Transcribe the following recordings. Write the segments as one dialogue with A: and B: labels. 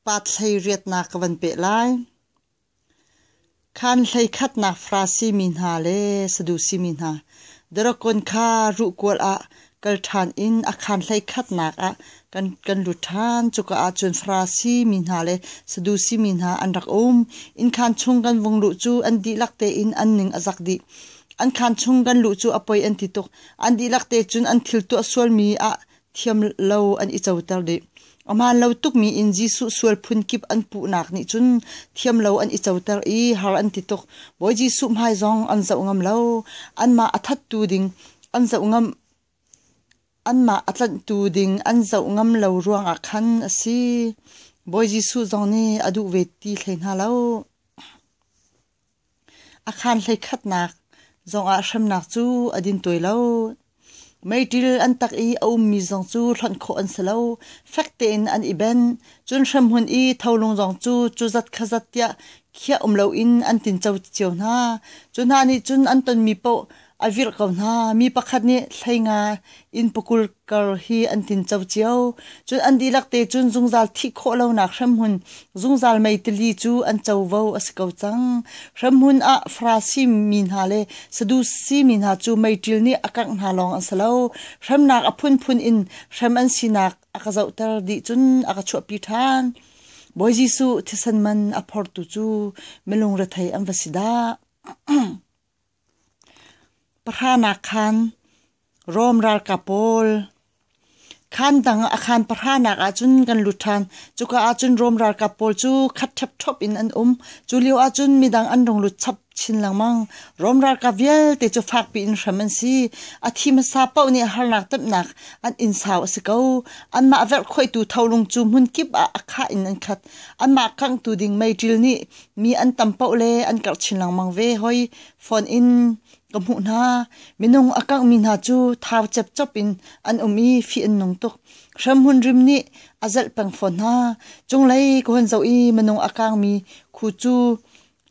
A: Pathlei riatnak ka van peh lai. Khan hlei khatnak Farasi mi hna le Sadusi mi hna, Darokon kha ruhkual ah kal ṭhan in a khan hlei khatnak ah kan, kan lut ṭhan. Cuka ah cun Farasi mi hna le Sadusi mi hna an rak um. Inn khan chung kan vung luh cu an dihlak tein an ning a zak dih. An khan chung kan luh cu a poi an ti tuk. An dihlak te cun an thil tuah sualmi ah thiam lo an i coter dih. A hmaan lo tukmi in Jesuh sual phun kip an puhnak nih cun thiam lo an i coter i har an ti tuk. Bawi Jesuh hmai zong an zoh ngam lo. Anmah a thattu ding an zoh ngam anmah a tlanhtu ding an zoh ngam lo ruangah khan a si. Bawi Jesuh zong nih a duh ve ti hlei hna lo. A khaan hlei khatnak zongah hremnak cu a din tuai lo. Meiṭil an tak i a ummi zong cu hlonh khawh an si lo. Fek tein an i ben. Cun hremhmun i tholung zong cu cu zat kha zat tiah khiah um loin an tinco cio hna. Cu hna nih cun an tonmi paoh a virh ko hna mi pakhat nih thlenga in pakul kar hi an tin co cio cun an dihlak te cun zungzal thih khawh lonak hremhmun zungzal mei tili cu an covo a si ko cang hremhmun ah farasi mi hna le sadusi mi hna cu meiṭil nih a kangh hna lawng an si lo hremnak a phunphun in hrem an sinak a ka zohter dih cun a ka chuahpi ṭhan Bawi Jesuh thisan man a phortu cu milung rethei an va si dah Pahranak khan Rom ralkap pawl Khan dang a khan pahranak ahcun kan lut ṭhan. Cuka ahcun Rom ralkap pawl cu khat ṭhepṭhop in an um. Cu lio ahcun midang an rung lut chap chin lengmang. Rom ralkap vialte cu fakpi in hrem an si. A thi hmasa paoh nih harnak temhnak an in sau a si ko. Anmah verhkhoihtu tholung cu hmunkip ah a khah in an khat. Anmah kanghtu ding meiṭil nih mi an tam paoh le an karh chin lengmang ve hoi phone in ka hmuh hna minung a kangh mi hna cu thau chep chop in an um i fi an nung tuk hrem hun rim nih a zelh peng fawn hna chung lei ko hun zo i minung a kang mi khu cu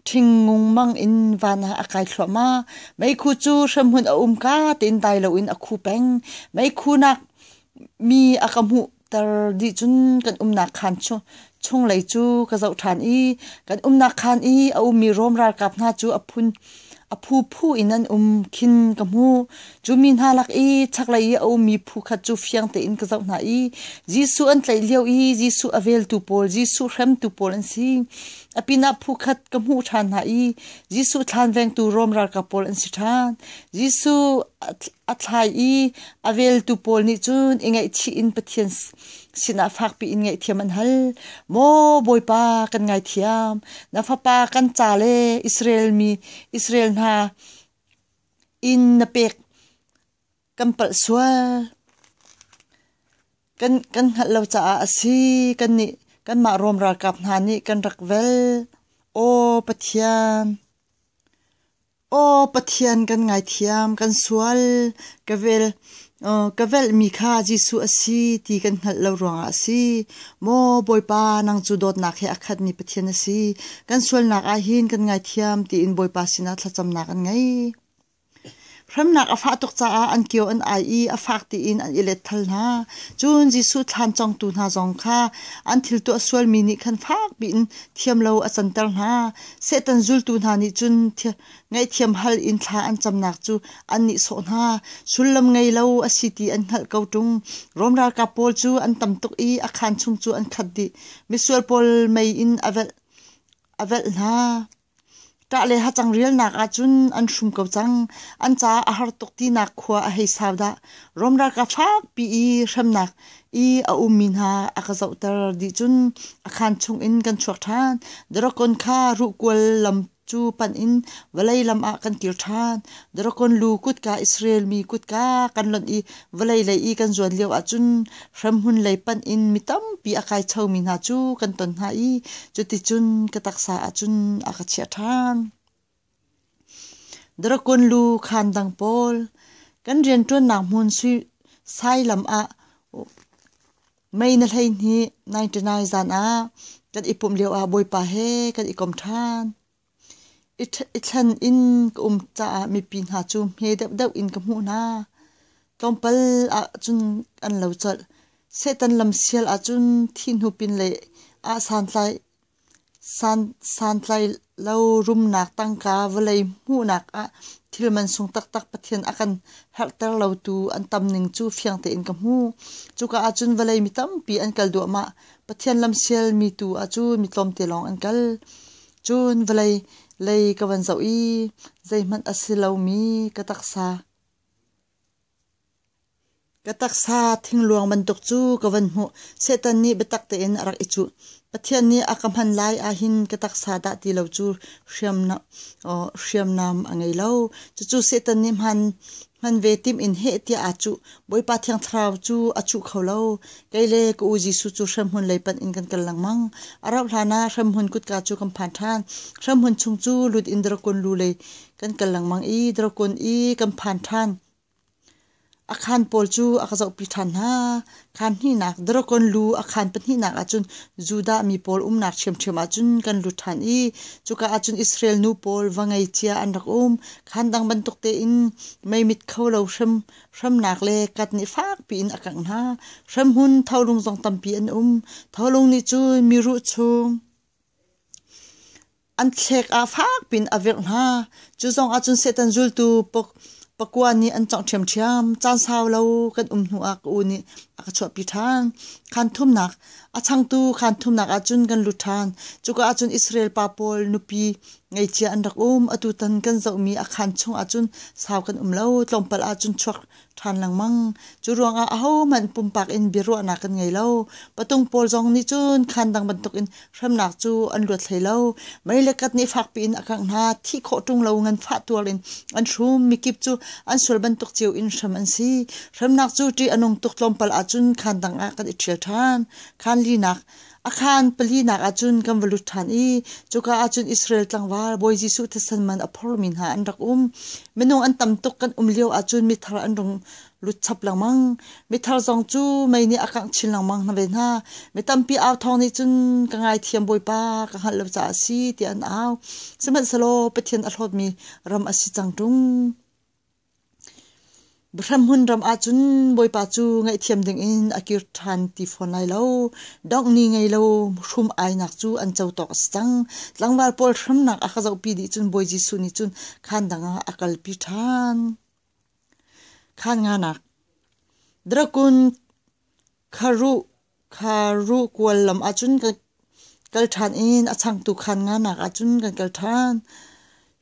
A: ṭhingnung mang in van ah a kai thluahma mei khu cu hrem hun a um ka tein dai lo in a khu peng mei khu nak mi a ka hmuh ter dih cun kan umnak khan chunglei cu ka zoh ṭhan i kan umnak khan i a ummi Rom ralkap hna cu a phun a phu phu in an um khin ka hmu cu mi hna lak i chaklei i a ummi phu khat cu fiang tein ka zoh hna i Jesuh an tlaih lio i Jesuh a veltu pawl Jesuh hremtu pawl an si a pinah phu khat ka hmuh ṭhan hna i Jesuh thlan vengtu Rom ralkap pawl an si ṭhan Jesuh a thlai i A veltu pawl nih cun i ngaihchih in Pathian sinah fakpi in ngaihthiam an hal. Maw Bawipa kan ngaithiam, na fapa kan ca le Israel mi Israel hna in na pek kan palh sual. Kan, kan hngalh lo caah a si, kan nih kanmah Rom ralkap hna nih kan rak vel. O Pathian, Aw Pathian kan ngaithiam, kan sual, ka vel uh, ka velhmi kha Jesuh a si ti kan hngalh lo ruangah a si. Maw Bawipa nang cu dawtnak he a khatmi Pathian a si. Kan sualnak ah hin kan ngaithiam tiin Bawipa sinah thlacamnak an ngei. Hremnak a fah tuk caah an kio an ai i a fak tiin an i let thal hna. Cun Jesuh thlan congtu hna zong kha an thil tuah sualmi nih khan fak piin thiam lo a canter hna. Satan zultu hna nih cun ngaihthiam hal in thla an camnak cu an nih sawh hna. Sullam ngei lo a si ti an hngalh ko ṭung. Rom ralkap pawl cu an tam tuk i a khaan chung cu an khat dih. Misual pawl mei in a velh a velh hna. Ṭah le hacang rialnak ahcun an hrum ko cang. An caah a har tuk tinak khua a hei sau dah. Rom ralkap fakpi i hremnak i a ummi hna a ka zohter dih cun a khan chungin kan chuak ṭhan. Dragon kha ruhkual lam cu panh in vawlei lam ah kan kir ṭhan. Dragon lu kutka Israel mi kutka kan lonh i vawlei lei i kan zuan lio ahcun hremhmun lei panh in mi tampi a kai chomi hna cu kan ton hna i cuticun ka taksa ahcun a ka chiah ṭhan. Drakun lu khaan dang pawl kan rianṭuannak hmun sailam ah mei na hleihnih ninety-nine zan ah kan i pumh lioah Bawipa he kan i kom ṭhan. I thlen in ka um caah mipi hna cu hme deuhdeuh in ka hmuh hna. Tlawmpal ahcun an lo colh. Satan lamsial ahcun thihnu pinlei ah santlai Santlailo rumnak tangka vawlei hmuhnak ah thil mansung taktak Pathian a kan herhter lo tu an tam ning cu fiang tein ka hmuh. Cuka ahcun vawlei mi tampi an kal duahmah. Pathian lamsial mi tu ahcun mi tlawmte lawng an kal. Cun vawlei lei ka van zoh i zeihmanh a si lomi ka taksa. Ka taksa thingluang bantuk cu ka van hmuh. Satan nih biatak tein a rak i cuh. Pathian nih a ka hman lai ahhin ka taksa dah ti lo cu hriamnam a ngei lo. Cucu Satan nih hman ve timh in heh tiah aa cuh. Bawipa Thiang Thlarau cu a chuh kho lo. Kei le ka u Jesuh cu hremhmun lei panh in kan kal lengmang. A rauh hlan ah hremhmun kutka cu kan phan ṭhan. Hremhmun chung cu lut in Drakon lu lei kan kal lengmang i Drakon i kan phan ṭhan. A khaan pawl cu a ka zohpi ṭhan hna. Khaan hnihnak, Dragon lu a khaan pahnihnak ahcun Judah mi pawl umnak ṭhiamṭhiam ahcun kan lut ṭhan i cuka ahcun Israel nu pawl va ngeicia an rak um. Khaan dang bantuk tein meimit kho lo hrem, hremnak le kat nih fakpi in a kangh hna. Hremhun tholung zong tampi an um. Tholung nih cun miruh chung, an thlek a fak pin a virh hna. Cu zong ah cun Satan zultu pakua nih an congh ṭhiamṭhiam. Caan sau lo kan um hnu ah ka u nih a ka chuahpi ṭhan. Khan thumnak a changtu khan thumnak ah cun kan lut ṭhan. Cuka ah cun Israel pa pawl nupi ngeicia an rak um. Atu tan kan zohmi a khan chung ah cun sau kan um lo. Tlawmpal ah cun chuak ṭhan lengmang. Cu ruangah ahohmanh pumpak in biaruahnak kan ngei lo. Patung pawl zong nih cun khaan dang bantukin hremnak cu an luat hlei lo. Mei le kat nih fakpi in a kangh hna. Thih khawh ṭung lo nganfah tuar in an hrum. Mikip cu an sual bantuk cio in hrem an si. Hremnak cu ṭih a nung tuk tlawmpal ahcun khaan dang ah kan i ṭhial ṭhan. Khaan linak A khaan palinak ah cun kan va lut ṭhan i cuka ah cun Israel tlangval Bawi Jesuh thisen man a phormi hna an rak um. Minung an tam tuk kan um lio ahcun mithar an rung lut chap lengmang. Mithar zong cu mei nih a kangh chin lengmang hna ve hna. Mi tampi au thawng nih cun ka ngaithiam Bawipa ka hngalh lo caah a si tiah an au. Sihmanhsehlaw Pathian a hlawtmi ram a si cang ṭung. Bahramhun ram ahcun Bawipa cu ngaihthiam dingin a kir ṭhan ti fawn lai lo. Donghni ngei lo hrum ainak cu an co tawk a si cang. Tlangval pawl hramnak a ka zohpi dih cun Bawi Jesuh nih cun khaan dangah a kalpi ṭhan. Khaan nganak Drakun, kharuh, Kha ruh kual lam ahcun kan kal ṭhan i a changtu khan nganak ahcun kan kal ṭhan.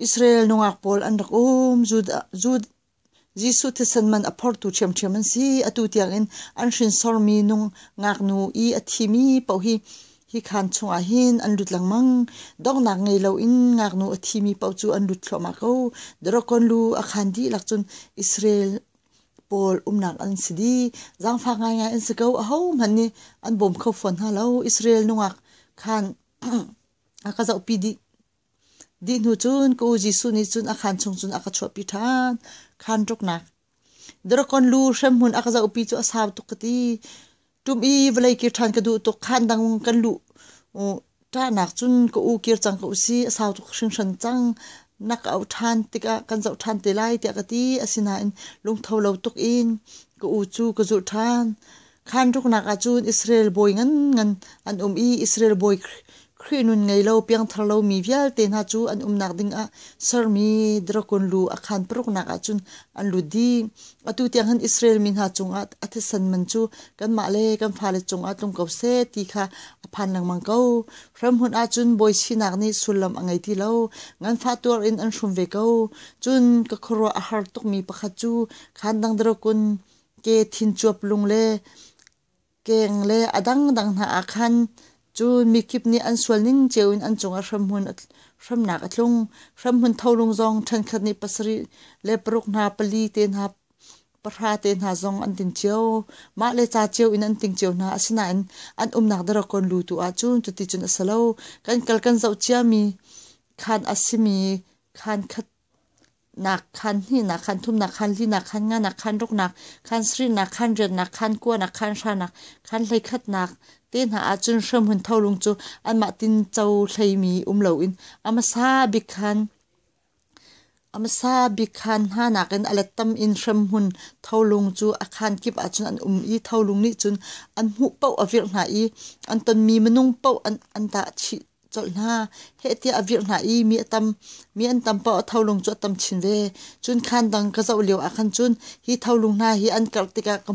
A: Israel nungak pawl an rak um. Judah, Judah, Jesuh thisen man a phortu ṭhiamṭhiam an si. Atu tiangin an hrinsormi nung ngaknu i a thimi paoh hi hi khaan chungah hin an lut lengmang. Donghnak ngei loin ngaknu a thimi paoh cu an lut thluahmah ko. Drakon lu a khaan dihlak cun Israel pawl umnak an si di zangfak ngaingai an si ko aho hmanh nih an bawm kho fawn hna lo Israel nungak khan a ka zoh pi dih dih hnu cun ka u Jesuh nih cun a khan chung cun a ka chuahpi ṭhan khan ruknak Drakon lu hremhmun a ka zohpi cu a sau tuk ka ti tum i vawlei kir ṭhan ka duh tuk khaan dang kan luh ṭahnak cun ka u kir cang ko si a sau tuk hringhran cang nak a auh ṭhan tikah kan zoh ṭhan te lai tiah ka ti asinain lungtho lo tuk in ka u cu ka zulh ṭhan khaan ruknak ah cun Israel bawi ngan ngan an um i Israel bawi Khrih nun ngei lo piangthar lomi vialte hna cu an umnak ding ah sermi drakon lu a khan paruknak ah cun an lut dih. Atu tiang hin Israel mi hna cungah a thisen man cu kanmah le kan fale cungah tlung ko seh ti kha a phan lengmang ko. Ramhunh ah cun bawi sinak nih sullam a ngei ti lo. Nganfah tuar in an hrum ve ko. Cun ka khuaruah a har tukmi pakhat cu khan dang drakon ke thincuap lung le Keng le a dangdang hna ah khan cu mikip nih an sual ning cio in an cungah hramhmun hramnak a tlung. Hramhmun tholung zong ṭhenkhat nih pasarih le paruk hna pali te hna pahra te hna zong an ting cio. Mah le ca cio in an ting cio hna. Asinain an umnak daragon lu tu ahcun cuticun a si lo. Kan kal kan zoh ciami, khaan a simi khaan khat nak khan hni nak khan thum nak khan li nak khan nga nak khan ruk nak khan sri nak khan rian nak khan kua nak khan hra nak khan hlei khat nak te hna ahcun hrem hun tho lung cu anmah tin cho hlei mi um lo in amasa bik khan amasa bik khan hna nak in alet tam in hrem hun tho lung cu a khan kip ahcun an um i tho lung nih cun an hmuh poh a virh hna i an tonmi minung poh an an dah colh hna. Heh tiah a virh hna i mi a tam mi an tam pa tholung cu a tam chin ve. Cun khan dang ka zoh lio ah khan cun hi tholung hna hi an karh tikah ka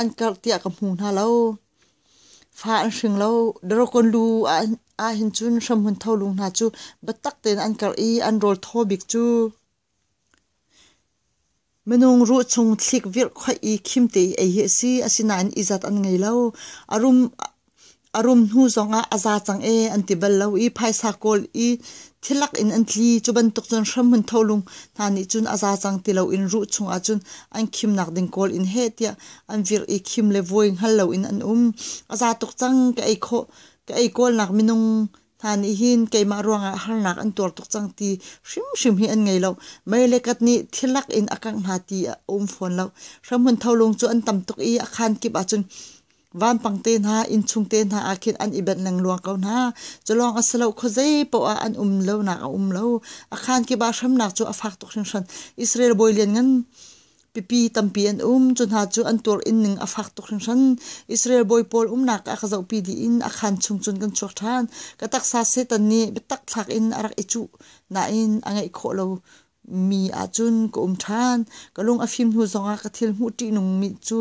A: an karh tiah ka hmu hna lo. Fa an hring lo. Darokon lu ah hin cun hramhun tholung hna cu biatak tein an karh i an rawl thaw bik cu. Minung ruh chung thlik virhkhoih i khimte i ei hi a si. Asinain izat an ngei lo. A rum, a rum hnu zongah a za cang ee an ti bal lo i phaisa kawl i thilak in an tli. Cu bantuk cun hramhmun tholung hna nih cun a za cang ti loin ruh chungah cun an khimnak ding kawl in heh tiah an virh i khim le vuai hngal loin an um. A za tuk cang ka ei khawh, ka ei kawlnak minung hna nih hin keimah ruangah harnak an tuar tuk cang ti hrimhrim hi an ngei lo. Mei le kat nih thilak in a kangh hna ti a um fawn lo. Hramhmun tholung cu an tam tuk i a khaan kip ahcun vampang te hna, innchung te hna ah khin an i benh lengluang ko hna. Culawng a si lo, khuazei paoh ah an um lonak a um lo. A khaan kip ah hramnak cu a fak tuk hringhran. Israel bawi lianngan Pipi tampi an um. Cu hna cu an tuar in ning a fak tuk hringhran. Israel bawi pawl umnak ah ka zohpi dih in a khan chung cun kan chuak ṭhan. Ka taksa Satan nih biatak thlak in a rak i cuh nain a ngeih khawh lo mi ahcun ka um ṭhan. Ka lung a fim hnu zongah ka thil hmuh ṭihnungmi cu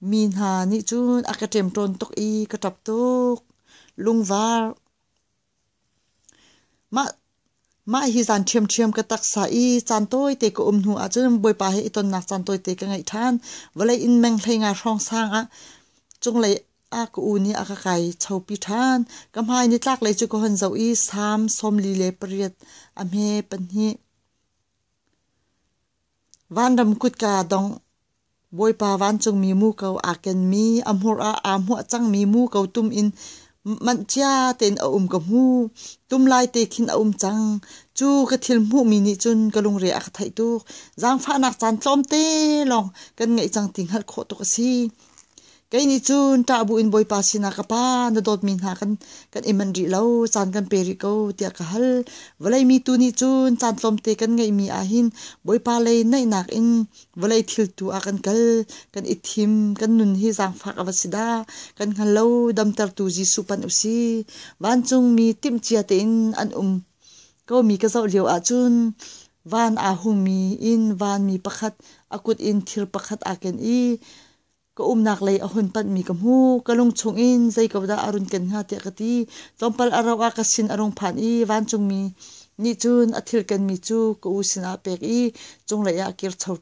A: mi hna nih cun a ka ṭem tawn tuk i ka ṭap tuk. Lungvar. Mah hi zan ṭhiamṭhiam ka taksa i caan tawite ka um hnu ahcun Bawipa he i tonnak caan tawite ka ngeih ṭhan. Vawlei in menghleng ah hrawng sang ah cunglei ah ka u nih a ka kai chopi ṭhan. Ka hmai nitlaklei cu ka hon zoh i Salm sawmli le pariat a hme pahnih. Vanram kutka dongh, Bawipa vancungmi muko aa kenmi, a hmur ah aa hmuah cangmi muko tum in manh cia tein a um ka hmu. Tum lai te khin a um cang. Cu ka thil hmuhmi nih cun ka lungre a ka theih tuk. Zaangfahnak caan tlawmte lawng kan ngeih cang ti hngalh khawh tuk a si. Kei nih cun ṭah bu in Bawipa sinah ka Pa na dawtmi hna kan kan i manh rih lo, caan kan pe rih ko tiah ka hal. Vawlei mi tu nih cun caan tlawmte kan ngeihmi ahhin Bawipa lei naihnak in vawlei thil tu ah kan kal, kan i thim, kan nun hi zaangfak a va si dah, kan hngal lo damtertu Jesuh pan u si. Vancungmi timhcia tein an um komi ka zoh lio ahcun van aa hungmi in vanmi pakhat a kut in thir pakhat aa ken i Ka umnak lei a hun panhmi ka hmu. Ka lungchung in zei ko dah a run ken hnga tiah ka ti. Tlawmpal a rauh ah ka sin a rung phan i vancungmi nih cun a thil kenmi cu ka u sinah a pek i cunglei ah a kir cho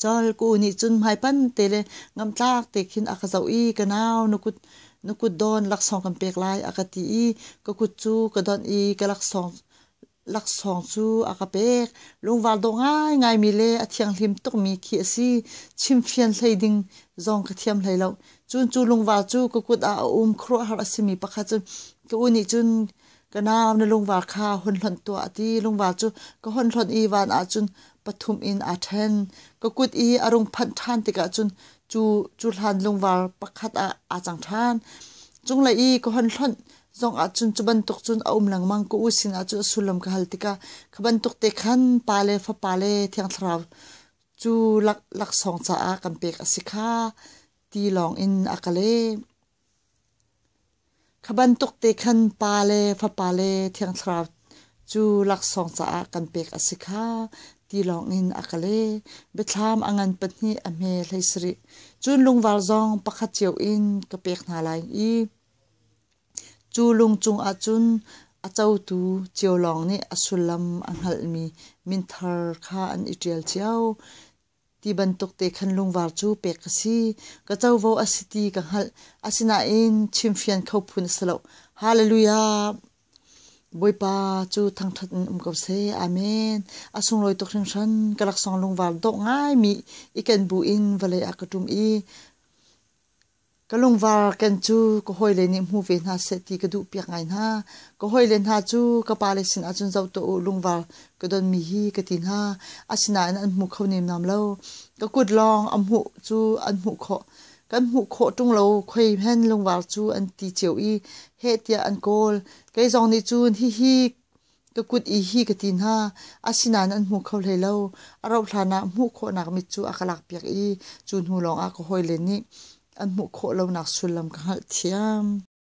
A: Col ka u nih cun hmaipan te le ngamtlak te khin a ka zoh i ka nau na kut na kut dawn laksawng kan pek lai a ka ti i ka kut cu ka donh i ka laksawng laksawng cu a ka pek. Lungvar dawh ngaingai mi le a thianghlim tukmi khi a si. Chimfian hlei ding zong ka thiam hlei lo. Cun cu lungvar cu ka kut ah a um. Khuaruahhar a simi pakhat cun ka u nih cun ka nau na lungvar kha hun hlonh tuah a ti. Lungvar cu ka hun hlonh i van ah cun pathum in aa ṭhen. Ka kut i a rung phanh ṭhan tikah cun cu, cu hlan lungvar pakhat ah aa cang ṭhan. Cunglei i ka hun hlonh zong ahcun cu bantuk cun a um lengmang ko u sin ahcun a sullam ka hal tikah kha bantuk te khan pa le fapa le thiang thlarau cu lak laksawng caah kan pek a si kha ti lawng in a ka leh kha bantuk te khan pa le fapa le thiang thlarau cu laksawng caah kan pek a si kha ti lawng in a ka le biathlam a ngan pahnih a hme hlei sarih cun lungvar zong pakhat cio in ka pek hna lai i Cu lung cungah cun a cotu cio lawng nih a sullam a hngalhmi minthar kha an i ṭial cio. Ti bantuk te khan lungvar cu pek ka si. Ka covo a si ti ka hngalh. Asinain chimfian kho phun a si lo. Hallelujah! Bawipa cu thangṭhat in um ko seh. Amen. A sunglawi tuk hringhran. Ka laksawng lungvar dawh ngaimi i kenbu in vawlei ah ka ṭum i Ka lungvar ken cu ka hawile nih hmu ve hna seh ti ka duhpiak ngai hna. Ka hawile hna cu ka pale sinah cun zoh tuah u, lungvar ka donmi hi ka ti hna. Asinain an hmu kho nemnam lo. Ka kut lawng an hmuh cu an hmuh khawh. Kan hmuh khawh ṭung lo khoi hen lungvar cu an ti cio i heh tiah an kawl. Kei zong nih cun hihi ka kut i hi ka ti hna. Asinain an hmu kho hlei lo. A rauhhlan ah hmuh khawhnak mit cu a ka lakpiak i cu hnu lawngah ka hawile nih an hmuh khawh lonak sullam ka hngalhthiam.